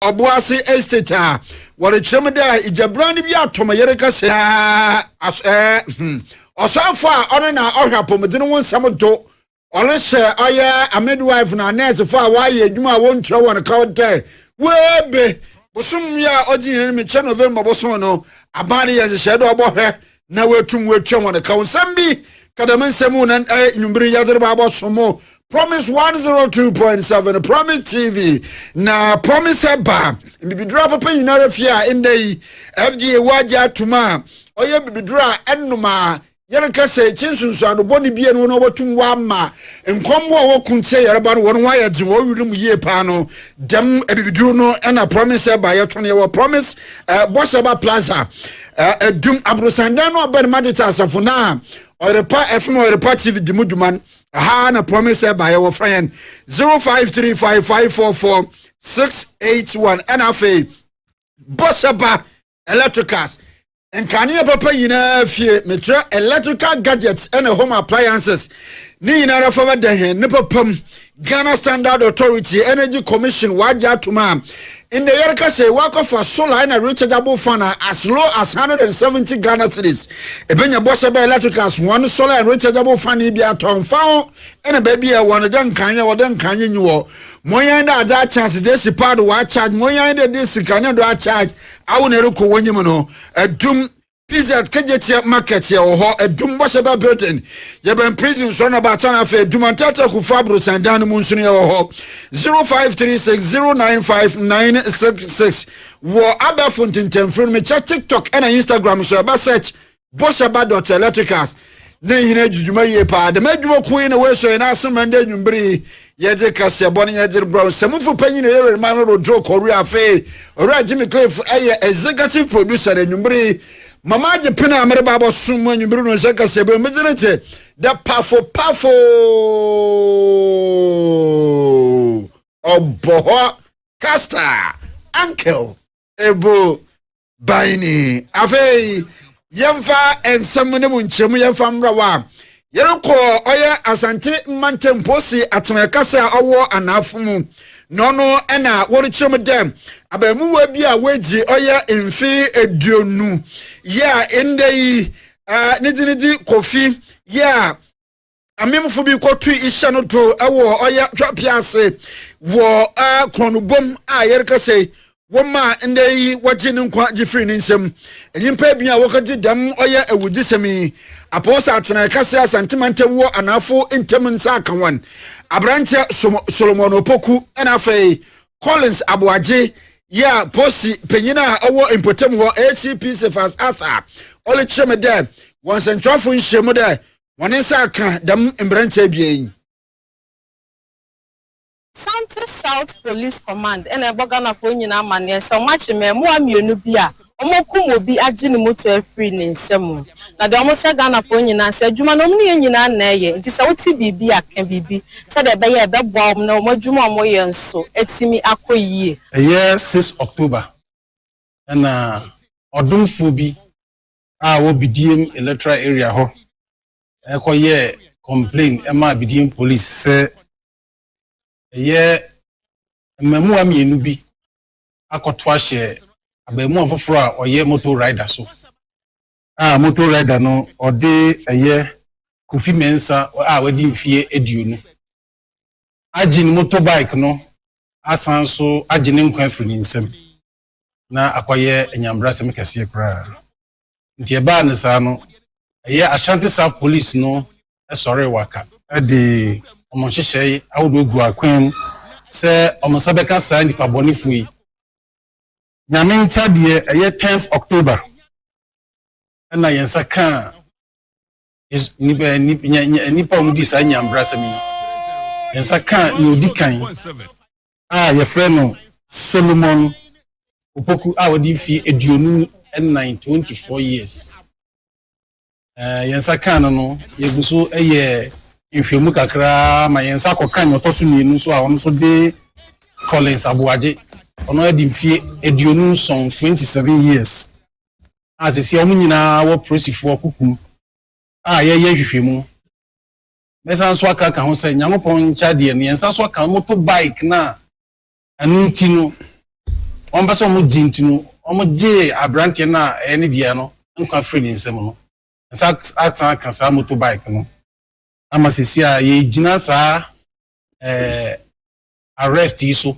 Ɔboase estate a wɔrekyerɛ mu dɛ egyabran bi atɔ me yere kɛse ara ɛɛ hmm. Ɔsɔfo a ɔno na ɔhwɛ apɔmuden ho nsɛm do ɔno hyɛ ɔyɛ a midwife na nɛɛsefo a wɔayɛ adwuma a wɔntua wɔn ka dɛ woebe bosom yi a odzi hɛn enyim kyɛ November bosom no aban de yɛ nhyehyɛɛ dɛ ɔbɔhwɛ na wɔatum wɔatua wɔn ka nsɛm bi ka dɛm nsɛm mu na ɛyɛ nwummere yi yɛde reba abɔso mu promise 102.7 promise tv na promise ɛba bibiduro apapa nyinara fie a ɛnnɛ yi fda wɔ agye atom a ɔyɛ bibiduro a ɛnom a yɛreka sɛ ɛkyi nsunsuano bɔne bie no na wɔbɛtum wɔama nkɔmbo a wɔko ntia yɛreba no wɔn ho ayɛ dze wɔn werɛ mu yie paa no dɛm abibiduro no ɛna promise ɛba yɛto no yɛwɔ promise ɛɛ bɔsɛba plaza ɛdum aborosandan no ɔbɛn ma de te asafo no a ɔyerepa ɛfom ɔyerepa tv di mu dwuma no aha na promise ɛba yɛ wɔfrɛ yɛn 0535544681 ɛna afei bɔhyɛba electricals nkanea papa nyinaa fie metrɛ electrical gadgets ɛna home appliances ne nyinaa fa bɛda hɛn ne papa mu Ghana Standard Authority Energy Commission wagye atom a ndɛ yɛreka sɛ wakɔfa solar na rechargeable fan a as low as 170 Ghana cedis. Ebenya bɔ sɛ bɛyɛ electricals ho ano solar and rechargeable fan yi bi atɔ mfa ho na baabi a ɛwɔ no dɛ nkaeɛ wɔ dɛ nkaeɛ nyi wɔ. Monyɛn dɛ adze akyɛnse dze esi paa do wɔacharge monyɛn dɛ dze sika ne do acharge awo na ɛrokɔ w'enyim no. Adum. PZ Kegyeteɛ Market yɛwɔ hɔ, Adum Bɔhyɛbɛ Building, yɛbɛn Prison Soro na Baatan afei Adum Anteatea Kufuor Aborosan dan no mu nso no yɛwɔ hɔ, 0536 095 966 wɔ abɛɛfo ntentɛnfiri no mekyɛ TikTok ɛna Instagram nso ɛbɛ search Bɔhyɛba dot electricals ne nyina adwudwuma yie paa dɛm adwuma kuo yi na wɔasua yɛn ase mɛnda nwumbere yi Yɛdze kaseɛbɔ no yɛdze rebrɛ wo. Nsɛmufo panyin na ɔyɛ Ɔwɛrima no Rodrill Kɔrue. Afei, Ɔwura Jimmy Cliff yɛ Executive Producer na anwumber yi, ma magye pen a mereba abɔsom mo anwumber no nsɛm kaseɛbɔ yi. Me dze no tse dɛ pafo pafo ɔbɔhɔ Castor Uncle. ɛbɔ ban ni afei yɛmfa nsɛm no mu nkyerɛmu yɛmfa mmra wɔ a yɛrekɔ ɔyɛ asante mmantampɔ si atena kasa a ɔwɔ anaafo mu na ɔno ɛna wɔrekyerɛ mu dɛ abaamuwa bi a wɔagyi ɔyɛ mfe aduonu yɛ a ɛndɛ yi ne gyinigyi kofi yɛ a amemfo bi kɔtui hyɛ no do wɔ ɔyɛ twapea ase wɔ korɔnobom a yɛrekasa yi wɔmaa ndɛ yi wɔgye ne nkwa gye firi ne nsam nyimpa ebien a wɔkɔgye dɛm ɔyɛ awudzisɛm yi apɔwɔsa atsena ɛkase asantema ntam wɔ anaafo ntam nsa aka wɔn aberanteɛ solomon opoku ɛna afei collins aboagye yɛ a posi panyin a ɔwɔ mpɔtam hɔ acp sefas asa ɔlekyerɛ me dɛ wɔn nsɛntwerɛfo nhyiamu dɛ hɔn nsa akã dɛm mberantsɛ ebien yi. Asante South Police Command na ɛbɔ Ghanafoɔ nyinaa amaneɛ sɛ wɔakye mmɛɛmoa mmienu bi a wɔakum obi agye ne moto afiri ne nsa mu. Na deɛ wɔsrɛ Ghanafoɔ nyinaa sɛ adwuma no wɔn ne yɛn nyinaa na ɛyɛ nti sɛ wote biribi a ka biribi sɛdeɛ ɛbɛyɛ a ɛbɛboa wɔn na wɔn adwuma a wɔyɛ nso atumi akɔ yie. Ɛyɛ six October na ɔdomfoɔ bi a ɔwɔ Bidiem electoral area hɔ kɔyɛɛ complain maa Bidiem police sɛ ɛyɛ mmaamua mmienu bi akɔto ahyɛ abaamua foforɔ a ɔyɛ motor rider so a motor rider no ɔde ɛyɛ Kofi Mensa a wadi mfeɛ aduonu agye ne motorbike no asan so agye ne nkwa afiri ne nsam. na akɔyɛ anyambrasɛm kɛseɛ koraa. Nti ɛbaa no saa no, ɛyɛ Ashanti South Police no sɔree waka, de wɔn nhyehyɛe ahodoɔ guu akwan mu sɛ wɔn nsa bɛka saa nnipa bɔnefoɔ yi. Nyame nkya deɛ ɛyɛ tenth October na yɛn nsa kaa nnipa a wɔdi saa nyanbrasɛm yi nsa kaa nea odi kan a yɛfrɛ no solomon opoku a ɔde mfie aduonu nnan twenty four years yɛn nsa kaa no no yɛgu so yɛ nhwɛmu kakraa ma yɛn nsa kɔka nea ɔtɔ so mmienu nso a ɔno nso de collins aboagye ɔno adi mfie aduonu nson twenty seven years a seesei wɔn nyinaa wɔ polisifo ɔkoko a yɛyɛ nhwehwɛmu. Mɛsan so aka aka ho sɛ Nyankopɔn nkyɛ adeɛ no, yɛn nsa so aka no, moto bike no a ɛno nti no wɔmpɛ sɛ wɔgye nti no wɔgyee aberanteɛ no a ɛyɛ ne dea no nkwa firii ne nsam no. Nsa asan aka saa moto bike no ama seesei a yɛgyina saa ɛɛ arrest yi so.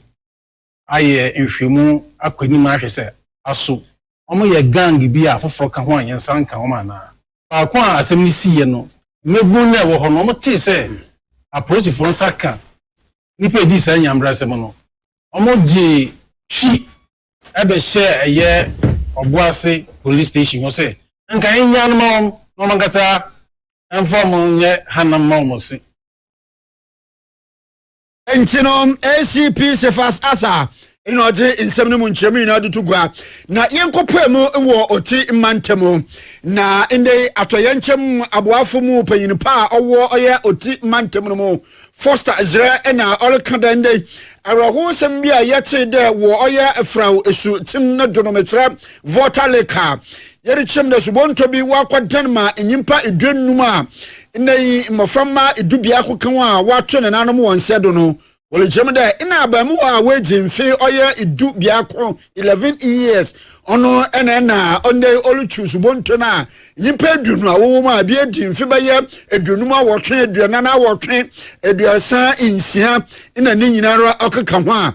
ayɛ nhwehwɛmu akɔ anim ahwɛ sɛ aso wɔyɛ gang bi a afoforɔ ka ho a yɛn nsa nka wɔn anaa. Faako a asɛm no siiɛ no, mmabunu no a ɛwɔ hɔ no, wɔtee sɛ apolisifoɔ nsa ka nnipa a ɛdii saa nyabrasɛm no, wɔgyee twi bɛhyɛɛ ɛyɛ Ɔboase Police Station hɔ sɛ nka yɛnnyaa no mma wɔn na wɔn ankasa mfa wɔn nyɛ hanam mma wɔn se. Nti no, ACP Cephas Arthur na ɔdze nsɛm no mu nkyerɛmu nyinaa do to gua na yɛnkɔpaa mu wɔ ɔti mma ntamu na ndɛ yi atɔyɛnkyɛm aboafo mu panyin pa a ɔwɔ ɔyɛ ɔti mma ntamu no mu Foster Zerɛ na ɔreka dɛ ndɛ awerɛhowsɛm bi a yɛtee dɛ wɔ ɔyɛ Frao esu tsim no do no mekyerɛ Volta Lake a Yɛrekyerɛm na subɔntɔ bi wakɔdan ma nyimpa eduonum a ndɛ yi mboframba dubiako kã a wɔato nenanom hɔn nsa do no, wɔrekyerɛm dɛ nna abaamuwa a oedzi mfe ɔyɛ du biako, 11 years, ɔno na nna ndɛ yi orutwuw subɔntɔ no a nyimpa eduonu a wɔwɔ mu a bi edzi mfe bɛyɛ eduonum awɔtwe, eduanan awɔtwe, eduasa nsia na ne nyinara ɔkeka ho a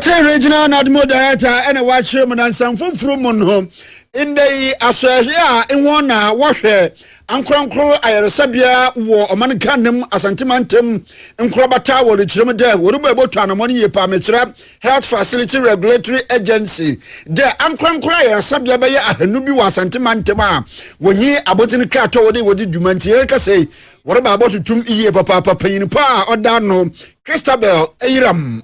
Te Regional Nadmo Director ɛna wɔakyerɛ mu na nsɛm foforo mu no ndɛ yi asɔɛhwɛ a ɛwɔ na wɔhwɛ ankorankoro ayaresabea wɔ ɔman Ghana mu Asante mantam nkorabata wɔ rekyerɛ mu dɛ wɔrebɔ ɛbɔtɔ anamɔ no yie paa mekyerɛ Health Facility Regulatory Agency dɛ ankorankoro ayaresabea bɛyɛ ahanu bi wɔ Asante mantam a wɔnyi abɔdzen kratɔ wɔde wɔde dwuma nti yɛreka sɛ wɔreba abɔtotom yie papaapa panyin paa ɔda no Christabel Ayiram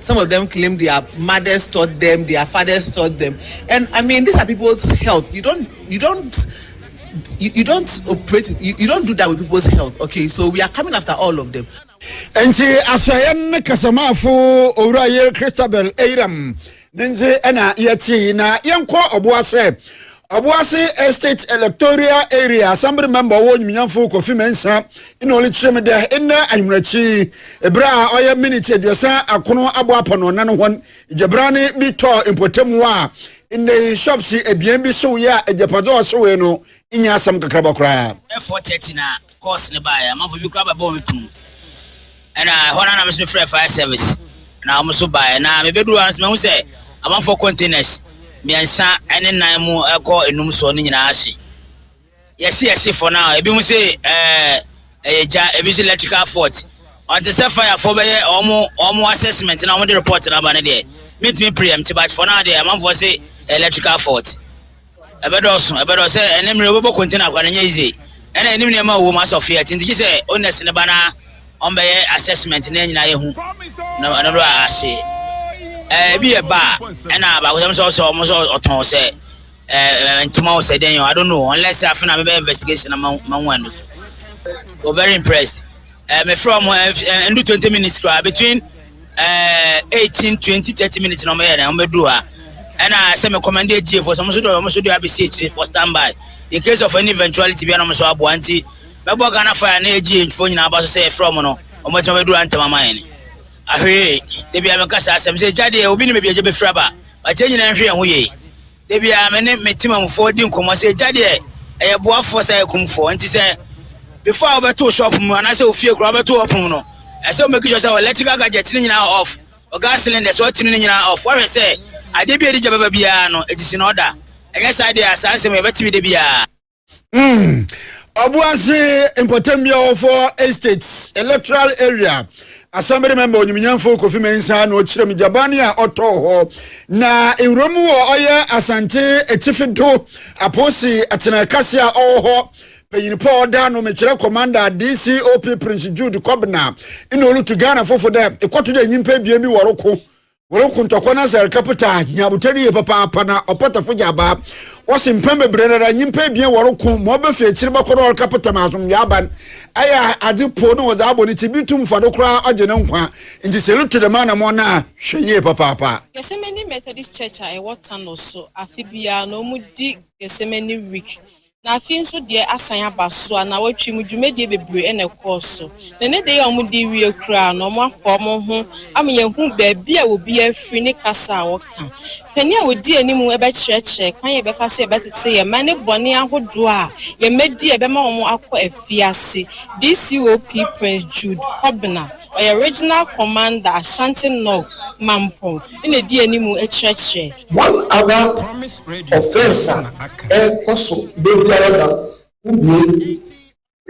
Some of them claim their mothers taught them, their fathers taught them. And I mean, these are people's health. You don't, you don't, you, you don't operate, you, you don't do that with people's health. Okay, so we are coming after all of them. nti asoɛyɛ ne kasamaafo owura yere christabel eiram ne nze ɛna yɛtee na yɛnkɔ ɔboa sɛ Aboase Estate Electoral Area Assembly member wɔ Nyimnyamfo Kofi Mensah na ɔrekyerɛ mu dɛ ndɛ anwummerɛkyi ber a ɔyɛ minute eduasa akron aboapa no ɔnan hɔn gyabrane bi tɔɔ mpɔtamu a ndɛ yi shops ebien bi hyewee a egyapadze a ɔhyewee no nnyɛ asɛm kakraba koraa. course no baeɛ amanfoɔ bi koraa bɛbɔ me tumm ɛna ɛhɔ no na me so mefrɛ fire service na wɔn so baeɛ na mebɛduru hɔ no so mahu sɛ amanfoɔ containers mmiɛnsa ne nan mu ɛkɔ enum soɔ no nyinaa ahye yɛse yɛse fɔ no a ebi mu se ɛɛ ɛyɛ gya ebi so electrical fault ɔnte sɛ firefoɔ bɛyɛ wɔn wɔn assessment na wɔn de report no aba no deɛ mentumi pere yɛm te but fɔ no a deɛ amanfoɔ se electrical fault Ɛbɛdɔɔso, ɛbɛdɔɔso sɛ ɛne mmerɛ wobɛbɔ konte na kwane nyɛ yize, ɛna yɛnim nneɛma a wɔwom asɔ feɛ, nti gyesɛ owners no ba na wɔbɛyɛ assessment na yɛn nyinaa yɛhu na ɛno a ase ɛɛ ebi yɛ ba a ɛna baakosɛm sɛ ɔsɛ wɔn sɛ ɔtɔn ɔsɛ ɛɛ ntoma ɔsɛ dɛn yɛn I don't know unless afei na mebɛyɛ investigation na ma ma hu ano so. We're very impressed. Eh, me frɛ ɔmo eh, eh, ɛndu twenty minutes koraa between eh, eighteen twenty thirty minutes na ɔmo yɛ dɛ ɔmo bɛ du ha ɛna sɛ me kɔmɛnde agyie fo so ɔmo so do ɔmo so do abɛsi akyire for stand by in case of any eventuality bi ɛna ɔmo so aboa nti mɛbɔ ghana fire ne agyie fo nyinaa aba so sɛ ɛfrɛ ɔmo no ɔmo atuma bɛ du ha ntɛm ama yɛn ahwee ebi a mɛka saa asɛm sɛ gya deɛ obi ne baabi agya bɛfiri aba wɔakyɛ nyinaa nhwɛ yɛn ho yie Da biara me ne me temamufoɔ di nkɔmmɔ sɛ gya deɛ ɛyɛ boafoɔ saa akumfoɔ nti sɛ before a wobɛto shop mu anaasɛ wo fie koraa wobɛto ɔpono no ɛsɛ wo make sure sɛ electrical gadget no nyinaa off wɔ gas cylinder sɛ ɔtene no nyinaa off woahwɛ sɛ adeɛ bi a ɛde gya bɛba biara no it is in order ɛnyɛ saa deɛ a saa nsɛm yɛbɛte bi da biara. Mm. Obuasi Mpotembi Awofo Estates Electoral Area Assembly member onyimnyamfo Kofi Mensah na ɔkyerɛ mu gyabane a ɔtɔɔ hɔ na ewuram wɔ ɔyɛ Asante Atifi do Aposi atena kɛse a ɔwɔ hɔ panyin pa ɔda no mekyerɛ commander DCOP Prince Jude Kobna na olutu Ghana fofo dɛ ekɔto dɛ nyimpa ebien bi wɔroko Wɔreko ntɔkwa na sɛ rekapita nyabotɛ no yie papaapa na ɔpɔtɔfo gya abaa. Wɔsi mpɛn bebree no ara nyimpa ebien wɔreko ma ɔbɛfi ekyir bɛkɔ na ɔrekapita ma asomdwee aban. Ɛyɛ a adze pow na wɔdze abɔ ne tsir, bi tum fa do koraa ɔgye ne nkwa. Ntsi sɛ erotu dɛm anamɔn no a, hwɛ yie papaapa. Gethsemane Methodist Church a ɛwɔ Thanos so, afe biara na wɔdi Gethsemane Week Na afei nso deɛ asan aba so a nawɔtwe mu dwumadie bebree na ɛkɔɔ so. Na ɛnnɛ da yi a wɔde rewie koraa no wɔafa wɔn ho ama yɛahu baabi a obiara firi ne kasa a wɔka. Panin a ɔdi anim bɛkyerɛkyerɛ kwan a yɛbɛfa so yɛbɛtete yɛn mma ne bɔne ahodoɔ a yɛn mma di a ɛbɛma wɔn akɔ afiase. DCOP Prince Jude Kobena, ɔyɛ Regional Commander Ashanti North, Mampong. na edi anim kyerɛkyerɛ. One other offence a ɛkɔ so da biara da ho bue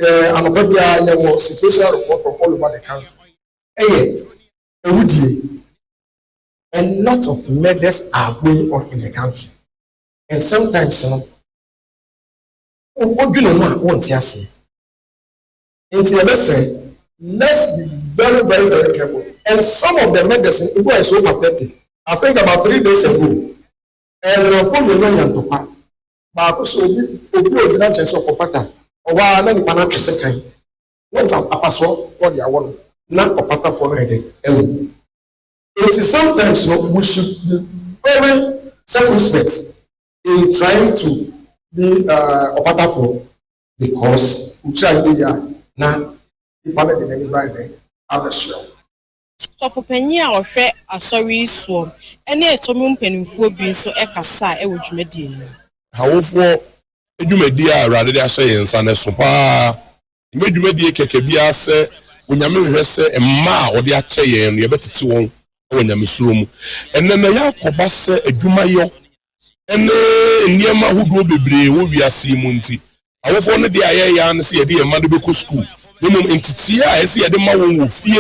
yɛ anɔpa biara yɛwɔ situational report from all over the country ɛyɛ awudie a lot of murders are going on in the country and sometimes no wodwene ho a wonte aseɛ. Nti yɛbɛsrɛ let's be very very very careful and some of the medicine ebi wɔ hɔ a is so pathetic I think about three days ago ɛyerɛfoɔ mmienu anya ntɔkwa baako sɛ obi obi a ɔgyina nkyɛn sɛ ɔkɔpata ɔwɔ ara na nipa no atwe sekan na ɔnsa apasoɔ na ɔde awɔ no na ɔpatafoɔ no ayɛ dɛ awu nti sometimes no we should be very circumspect in trying to be uh, ɔpatafoɔ. Because wokyira no yiye a na nipa no de n'ani ban bɛ abɛsoɛ wo. Sɔfopanyin a ɔhwɛ Asɔre yi soɔ ne Asɔre mu mpanimfoɔ bi nso kasaa wɔ dwumadie no mu. Hawofoɔ dwumadie a Awurade de ahyɛ yɛn nsa no ɛso pa ara. Ɛnyɛ dwumadie kɛkɛ bi ara sɛ Onyame hwehwɛ sɛ mma a ɔde akyɛ yɛn no yɛbɛtete wɔn wɔ nyamesuro mu. Ɛnnɛ na yɛakɔba sɛ adwumayɔ ne nneɛma ahodoɔ bebree wɔ wiase yi mu nti, awofoɔ no deɛ a yɛyɛ ara ne sɛ yɛde yɛn mma no bɛkɔ sukuu, na mmom nteteeɛ a ɛsɛ yɛde ma wɔn wɔ fie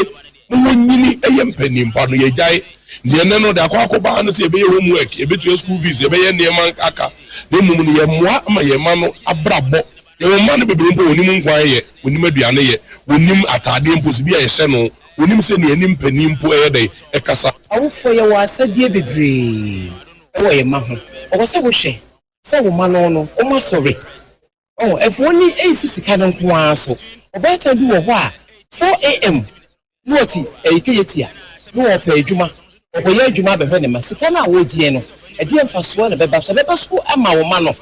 ma wɔnyini yɛ mpanin pa no, yɛgyae. Deɛ ɛnnɛ no, deɛ akɔ akɔba ara ne sɛ yɛbɛyɛ home work, yɛbɛtua school fees, yɛbɛyɛ nneɛma aka, na mmom no yɛmmoa ma yɛn mma no abrabɔ. Yɛwɔ mma no bebree mpo a wɔnnim nkwan yɛ, wɔnnim aduane yɛ, wɔnnim ataadeɛ mpo sɛ bi a yɛhyɛ no, Wonim sɛ nea anim panin mpo ɛyɛ dɛn kasa. Awofoɔ yɛwɔ asɛdeɛ bebree wɔ yɛn mma ho. Ɛwɔ sɛ wohwɛ sɛ wo mma no no wɔn asɔre. Ɔho ɛmfa wɔn ani ɛnsi sika no nko ara so. Ɔbaatan bi wɔ hɔ a 4 AM na ɔte ɛyi kayatia na ɔɔpɛ adwuma Ɔkɔyɛ adwuma abɛhwɛ ne mma. Sika no a wogyeɛ no, ɛdeɛn mfasoɔ na ɛbɛba so? Ɛbɛba so ama wo mma no?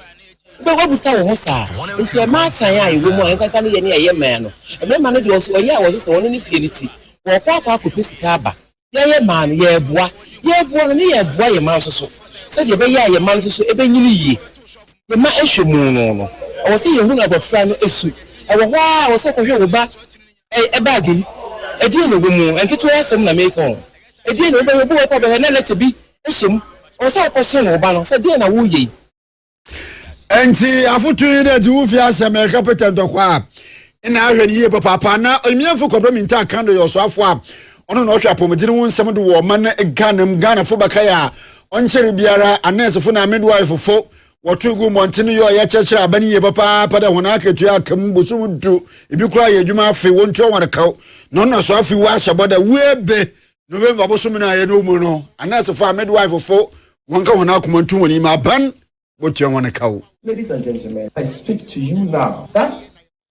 Wobɛ w'abisa wo ho saa? Nti ɛmma atan a ɛwɔ mu a nkanka ne yɛ ne ɛyɛ mmaa no. Mmarima no deɛ ɔso ɔyɛ a wɔsɛ sɛ wɔne ne fie no ti. Wɔɔkɔ akɔ akɔpɛ sika aba. Yɛyɛ mmaa no, yɛɛboa. Yɛɛboa no ne yɛɛboa yɛn mma nso so. Sɛdeɛ ɛbɛyɛ a yɛn mma no nso so ɛbɛnyini yie. Yɛn mma ɛhwɛ mu no no, ɛwɔ sɛ yɛhunu abɔfra no su. Ɛwɔ hɔ ara a, ɛwɔ sɛ wokɔhwɛ wo ba Ɛy ɛ bag yi ɛdeɛn na ɛwɔ mu o, nketewa asɛm na meeka o, ɛdeɛn na wobɛyɛ, obi wɔ hɔ koraa a ɔbɛhwɛ na lɛtɛ bi hyɛ mu, ɔwɔ sɛ wokɔhyɛn wo ba no sɛ deɛn na woreyɛ yi. Ɛnti afotu yi dɛ dze wo fie asɛm ɛreka Peter ntɔkwa a, nna ahwɛ no yie papaapa. Nna Onyimienfo Kwadwo Mintah Kandor yɛ ɔsoafo a ɔno na ɔhwɛ apɔmuden ho nsɛm do wɔ ɔman Ghana mu. Ghanafo bɛkae a ɔnnkyɛree biara a nɛɛsefo na midwife fo Wɔto gu mmɔnten yɛ ɔyɛ kyerɛkyerɛ aban yie papaapa dɛ hɔn akatua aka mu bosoom du, bi koraa yɛ edwuma afe, wontua hɔn kaw, na ɔno so afe wɔahyɛ bɔ dɛ woebe November bosoom no ayɛ no mu no, anɛɛsefo a midwife fo wɔnka hɔn akoma nto hɔn yim aban botua hɔn kaw. Ladies and gentlemen, I speak to you now that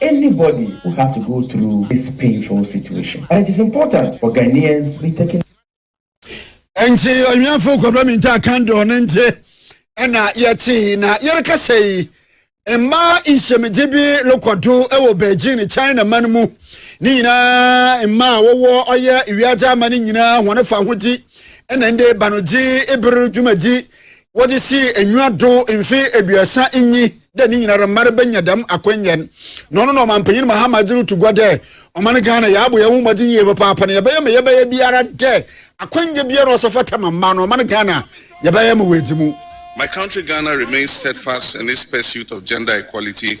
Anybody will have to go through this painful situation but it is important for Ghanaians to be taking. Nti ɔnwɛnfo kɔbrɛ mi ntaa kan dɔɔ ne nti ɛna yɛte na yɛrekasa yi mmaa nhyɛmidze bi rekɔ do wɔ Beijing China man mu ne nyinaa mmaa a wɔwɔ ɔyɛ wiadze ama ne nyinaa wɔn fa ho di ɛna ɛnde banodzi eber dwumadzi wɔdze sii enyiwa do mfe eduasa nyi dɛ ne nyinara mma no benya dɛm akwanya no, na ɔno na Ɔmampanyin Mahama dze rutu gua dɛ, Ɔman Ghana, yɛabɔ hɛnho mbɔdzen yie papaapa na yɛbɛyɛ ma yɛbɛyɛ biara dɛ akwanya biara a ɔfata ma mma no, Ɔman Ghana, yɛbɛyɛ ma oeedzi mu. My country Ghana remains steadfast in its pursuit of gender equality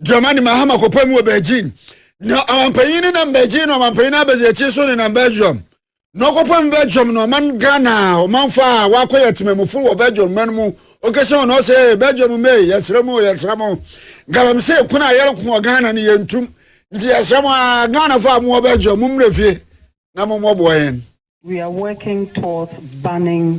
Dramani Mahama kɔpɛ mu wɔ Beijing na ɔmampanyin no nam Beijing na ɔmampanyin no abɛgye akyi so nenam Belgium na ɔkɔpɛ mu Belgium na ɔman Ghana ɔmanfo a wakɔyɛ temamufo wɔ Belgium man mu ɔkɛsɛ wɔn ɔsɛ Belgium mɛ yɛsrɛ mu yɛsrɛ mu galamsey kun a yɛreko wɔ Ghana no yɛntum nti yɛsrɛ mu a Ghana fo a mowɔ Belgium mo mmerɛ fie na mo mmɔboa yɛn. We are working towards banning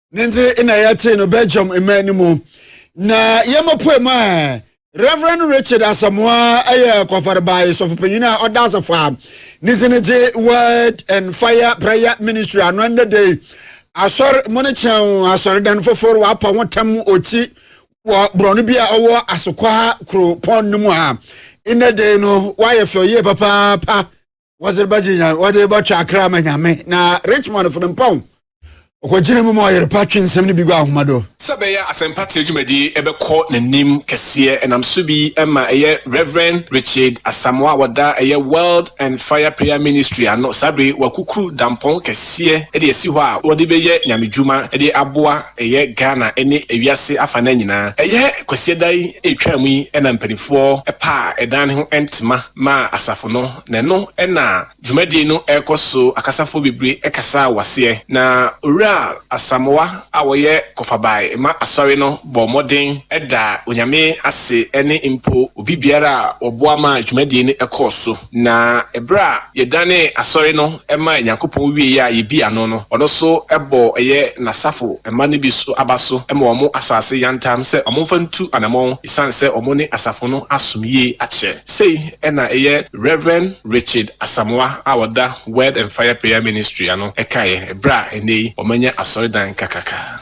ne ndze na yɛtee no Belgium mmaa no mu na yɛmapue mu a Reverend Richard Asamoa yɛ kwafarebae sɔfopanyin a ɔda asafo a ne dzi ne dze Word and Fire Prayer Ministry ano ɛnna de asɔr mu ne kyɛn asɔredan fofor wapa ho tam ɔkyi wɔ borɔno bi a ɔwɔ asokwa kuropɔn no mu a ɛnna de no wayɛ fɛ ɔyie papaapa wɔdze bɛgye nyame wɔdze bɛtwe akra ama nyame na richmond fo no mpa ho ɔkɔgyina mu ma ɔyere pa twe nsɛm no bi gu ahoma do Sɛ ɛbɛyɛ a asɛmpa trɛ dwumadi bɛkɔ n'anim kɛseɛ, ɛnam so bi ma ɛyɛ Rev. Richard Asamoah a ɔda ɛyɛ World and Fire Prayer Ministry ano saa bere yi wakukuru dampɔn kɛseɛ de asi hɔ a wɔde bɛyɛ nyamedwuma de aboa ɛyɛ Ghana ne ewiase afanan nyinaa. Ɛyɛ Kwasiada yi ɛretwam yi na mpanimfoɔ paa ɛdan no ho ntema. ma asafo no, na ɛno na dwumadie no rekɔ so, akasafoɔ bebree kasaa wɔ aseɛ, na Owura Asamoah a ɔyɛ Kɔfabae Mma Asɔre no bɔɔ mmɔden daa Onyame ase ne mpo obi biara a ɔboa maa dwumadie no kɔɔ so, na berɛ a yɛdanee Asɔre no maa Nyankopɔn wieeɛ a yɛdii ano no, ɔno nso bɔɔ ɛyɛ N'asafo mma no bi so aba so ma wɔn asase yantam sɛ wɔmfa ntu anamɔn ɛsiane sɛ wɔn ne asafo no asom yie akyɛ. Sei na ɛyɛ Rev. Richard Asamoah a ɔda Word and Fire Prayer Ministry ano kaeɛ berɛ a ɛnnɛ yi wɔanya asɔredan kakraka.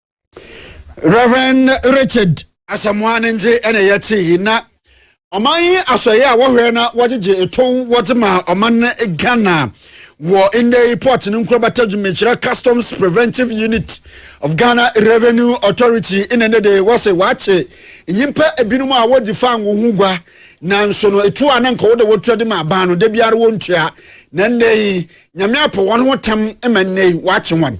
Reverend Richard Asamoah ne ndze na yɛtse yi na ɔman yi asɔyɛ a wɔhwɛ na wɔgyegye etow wɔdze ma ɔman Ghana wɔ ndɛ yi port ne nkorabata dwumakyerɛ customs preventive unit of Ghana revenue authority na ndɛ de wɔse wɔakye nyimpa ebinom a wɔdzi fango ho gua nanso no etu a na nka wɔde wɔtua de ma aban no da biara wɔntua na ndɛ yi nyame apɛ wɔn ho tam ma ndɛ yi wɔakye wɔn.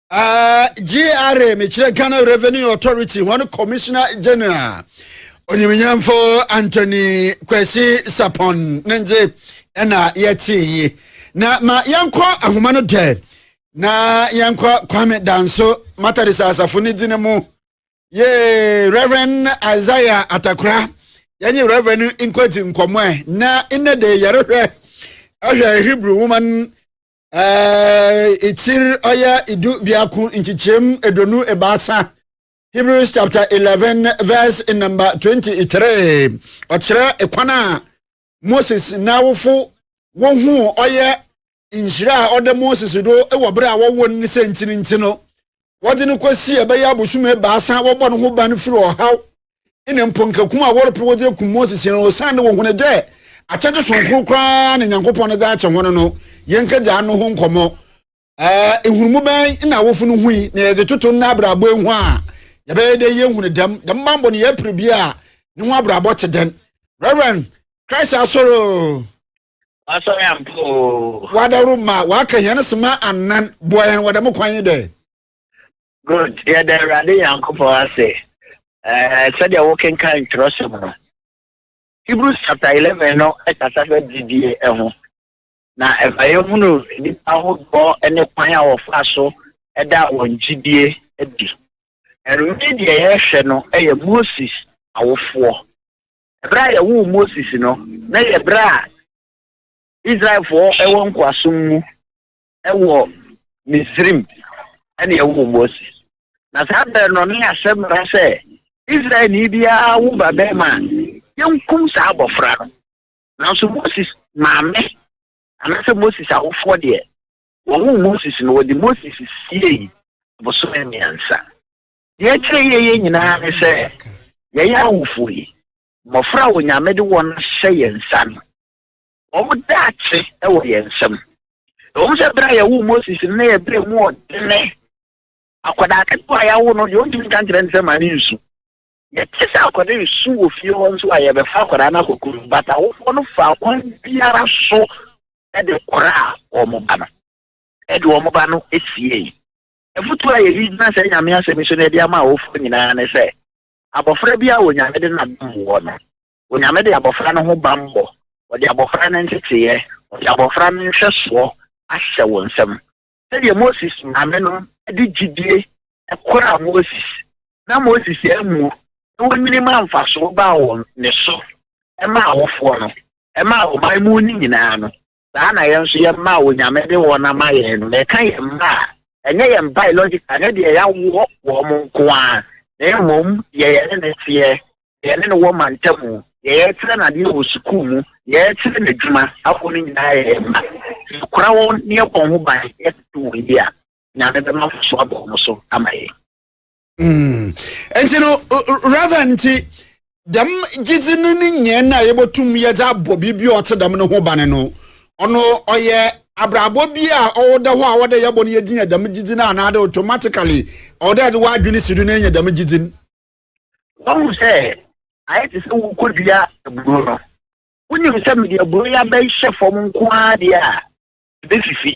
Uh, GRA, mekyerɛ Ghana Revenue Authority, one Commissioner General, Onyiminyamfo Anthony Kwesi Sapon, Nenze, ɛna yɛte yi. Na ma yɛnkɔ ahoma no dɛ, na yɛnkɔ Kwame Danso, Matadisa asafo ne dine mu. Ye Reverend Isaiah Atakra, yɛnye Reverend nkɔdzi nkɔmmɔ ɛ, na nnɛ de yɛrehwɛ ahwɛ Hebrew woman ɛkyir ɔyɛ du biako nkyekyɛm eduonu ebaasa hebrews chapter eleven verse number twenty three ɔkyerɛ kwan a moses n'awofo wohu ɔyɛ nhyira a ɔda moses do wɔ bere a wɔwɔ no sɛ ntinti no wɔde no kɔsi ɛbɛyɛ abosom ebaasa wɔbɔ no ho ban firi ɔhaw na mpo nka kum a wɔrepere wɔdze ekum Moses no, osiandɛ wohun dɛ akyɛdze soronko koraa na Nyankopɔn no dze akyɛ hɔn no, yɛnkɛdzi ano ho nkɔmbɔ. Ɛɛ, nhunumu bɛn na awofo no hui, na yɛdze toto ndɛ abrabɔ ehu a yɛbɛyɛ dɛ yennhun dɛm dɛm bambɔ no yɛpere bi a no ho abrabɔ tse dɛn? Reverend, Christ asɔr o! Asɔr ampa o! Wɔadaworo ma wɔaka hɛn soma anan, boa hɛn wɔ dɛm kwan yi dɛ. Good, yɛda Awurade Nyankopɔn ase ɛɛ eh, sɛdeɛ wokenkan twerɛsɛm no. Hebrews chapter eleven no ɛkasa fɛ gyidie ɛho. Na ɛma yɛhunu nnipa ahodoɔ ne kwan a wɔfa so ɛda wɔn gyidie adi. Ɛno ne deɛ yɛhwɛ no ɛyɛ Moses awofoɔ. Ɛberɛ a yɛwoo Moses no, na yɛ berɛ a Israelfoɔ ɛwɔ nkoasom mu. wɔ Misraim ɛne ɛwɔ Mose. Na saa bɛrɛ no ne asɛm mmara sɛ Israelni biara wo ba bɛrima a yɛnkum saa abɔfra no. Nanso Moses maame anaasɛ Moses awofoɔ deɛ wɔwo Moses no wɔde Moses siei bosome mmiɛnsa. Deɛ ɛkyerɛ yɛyɛ nyinaa ne sɛ yɛyɛ awofoɔ yi mmɔfra a Onyame de wɔn ahyɛ yɛn nsa no Wɔn daakye wɔ yɛn nsam. Ɛwom sɛ bere a yɛwoo Moses no, na ɛyɛ bere a emu wɔ dene. Akwadaa ketewa a yɛawo no deɛ ɔntumi nka nkyerɛ ne sɛ ma ne nsu. Yɛte sɛ akwadaa resu wɔ fie hɔ nso a, yɛbɛfa akwadaa no akɔ kurom, but awofoɔ no fa kwan biara so de koraa wɔn ba no, de wɔn ba no siei. Afotuo a yɛde gyina saa Nyame asɛm yi so na yɛde ama awofoɔ nyinaa ne sɛ, abɔfra biara a Onyame de n'adom wɔ no, Onyame de abɔfra no ho bammɔ, ɔde abɔfra no nteteeɛ, ɔde abɔfra no nhwɛsoɔ ahyɛ wo nsam. Sɛdeɛ Moses maamenom de gyidie koraa Moses na Moses ammuo na wɔnyini maa mfasoɔ baa wɔn ne so, ɛmaa awofoɔ no, ɛmaa ɔman mu no nyinaa no, saa na yɛn nso yɛn mma a Onyame de wɔn ama yɛn no, yɛka yɛn mma a, ɛnyɛ yɛn biological, ɛnyɛ deɛ yɛawoɔ wɔn nko ara, na mmom deɛ yɛne no teɛ, deɛ yɛne no wɔ mantamu, deɛ yɛkyerɛ no adeɛ wɔ sukuu mu, deɛ yɛkyerɛ no adwuma, afoɔ no nyinaa yɛ yɛn mma. Sɛ yɛkura wɔn na yɛbɔ wɔn ho ban, yɛtete wɔn yie a, Nyame bɛma mfasoɔ aba wɔn so ama yɛn. Mm. Nti no, Reverend nti, dɛm gyedzi no ne nyɛn a yɛbɛtum yɛdze abɔ biribi a ɔtse dɛm no ho ban no, ɔno ɔyɛ abrabɔ bi a ɔwɔ dɛ hɔ a ɔwɔ dɛ yɛbɔ no yɛdze nya dɛm gyedzi no anaadɛ automatically ɔwɔ dɛ yɛdze w'adwene si do na yɛnya dɛm gyedzi no. Wɔhu sɛ ayɛ te sɛ wokɔdua aburo no. Wonim sɛ mede aburo yi abɛhyɛ fam nko ara deɛ a, ɛbɛfifi.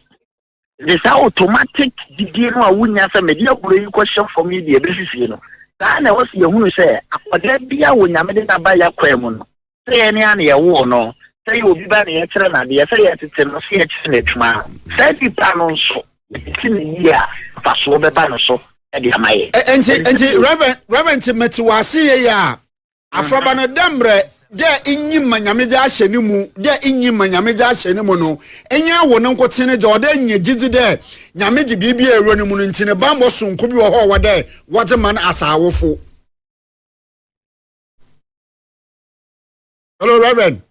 de saa automatic gyidie no a wonya sɛ mede aburɛ yi kɔhyɛ fam yi deɛ ɛbɛfifie no saa na ɛwɔ sɛ yɛhunu sɛ akwadaa bi a onyame de naba yɛ kwan mu no sɛ yɛn ne a na yɛwoo no sɛ yɛ obi ba na yɛkyerɛ no adeɛ sɛ yɛtete no sɛ yɛkyerɛ no adwuma saa nipa no nso ɛti ne yie a mfasoɔ bɛba no so ɛde ama yɛ ɛnti ɛnti reverend reverend mɛti wɔ ase yɛ yɛ a Afɔrba no, dɛ mbrɛ dɛ innyim ma Nyame dze ahyɛ no mu, dɛ innyim ma Nyame dze ahyɛ no mu no, nnyɛ wo no nkotsee ne dza ɔwɔ dɛ inya gyedzi dɛ Nyame dze biribiara ewura no mu no ntsi ne bambɔ soronko bi wɔ hɔ a ɔwɔ dɛ wɔdze ma no asa awofo. Hello, Reverend.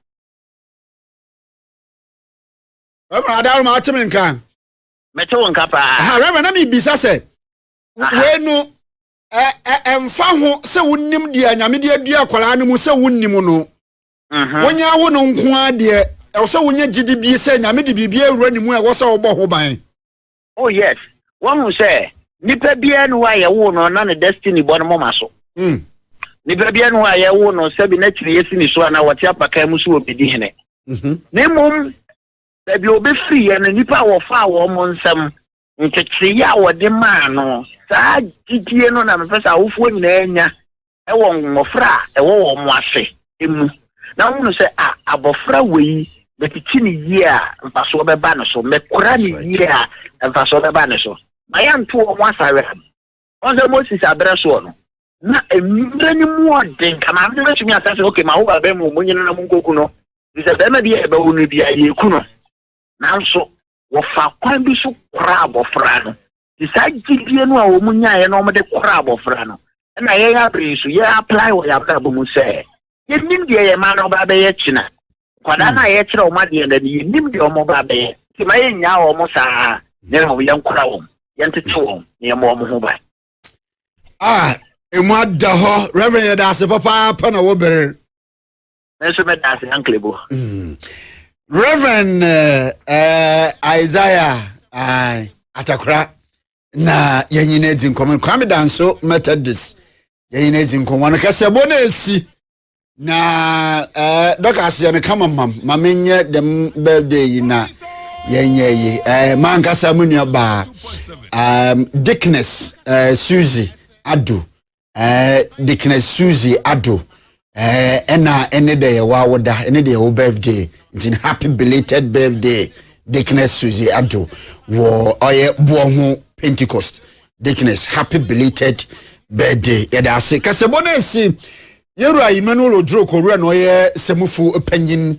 Reverend Adaroma, ate me nka? Mete wo nka paa. Aha, Reverend, na mebisa sɛ, wei no, ɛmfa ho sɛ wonim deɛ nyame de adua akwaraa no mu sɛ wonnim no mhm. wonyɛ awo no nko ara deɛ ɛwɔ sɛ wonya gyidi bi sɛ nyame de biribi awura ne mu a ɛwɔ sɛ wobɔ ho ban oh yes wahu sɛ nipa biara ne hɔ a yɛwo no na ne destiny bɔ no moma so hmm. nipa biara ne hɔ a yɛwo no sɛbi na kyiri yɛsi ne so anaa wɔte apakan mu so wɔbɛdi hene mhm. na mmom baabi a wɔbɛfiri yɛ no nnipa a wɔfaa wɔn mo nsɛm ntetee a wɔde maa no, saa gyidie no na mepɛ sɛ awofoɔ nyinaa nya wɔ mmɔfra a ɛwɔ wɔn ase mu, na wɔhunu sɛ a abɔfra wei mɛtete ne yie a mfasoɔ bɛba ne so, mɛkora ne yie a mfasoɔ bɛba ne so, ma yɛnto wɔn asawe ano. Wɔn sɛ Moses aberɛ soɔ no, na mmerɛ no mu ɔden ka maame no bɛtumi aka sɛ, ok, ma wo ba bɛrima mu nyina na mu nkɔku no, sɛ bɛrima bi a ɛbɛwo no biara yɛku no. nanso wɔfaa kwan bi so koraa abɔfra no. Nti saa gyidie no a wɔn nyaeɛ na wɔde koraa abɔfra no, ɛna yɛn abere yi so yɛ apply wɔ yɛn abrabɔ mu sɛ yɛnim deɛ yɛn mma no ba bɛyɛ kyena. Nkwadaa no a yɛkyerɛ wɔn adeɛ no, yɛnim deɛ wɔn ba bɛyɛ. Nti ma yɛnyaa wɔn saa na mmom yɛnkora wɔn, yɛntete wɔn na yɛmmɔ wɔn ho ban. Ah, ɛmu ada hɔ. Reverend yɛda ase papaapa na wobere. Me nso meda ase ankle bo. Mm. Reverend uh, uh, Isaiah uh, Atakora na yɛnyina dzi nkɔmmɔ Kwame Danso Methodist yɛnyina dzi nkɔmmɔ no kasɛbɔ no ɛsi na uh, dɔka aseɛ no kama mam ma menyɛ dɛm birthday yi na yɛnyɛ yi uh, mankasa mu nuabaa um, Dickness uh, Susie Ado eh, dikina suzy ado eh, ɛna ɛne dɛ yɛwɔ awoda ɛne dɛ yɛwɔ birthday nti happy belated birthday dikina suzy ado wɔ ɔyɛ boɔ ho pentecost dikina happy belated birthday yɛde ase kasɛbɔ no asi yɛwura emmanuel oduro kɔwura na ɔyɛ sɛmufo panyin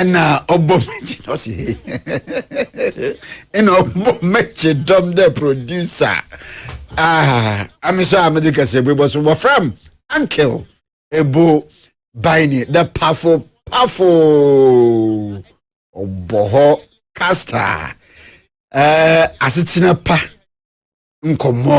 ɛna ɔbɔ mɛkyi ɔsi ɛna ɔbɔ mɛkyi dɔm dɛ producer aa amesɔ a mɛde kɛse bɔ so wɔfram uncle ebo baini the pafo pafo ɔbɔ hɔ kasta ɛɛ asetena pa nkɔmɔ.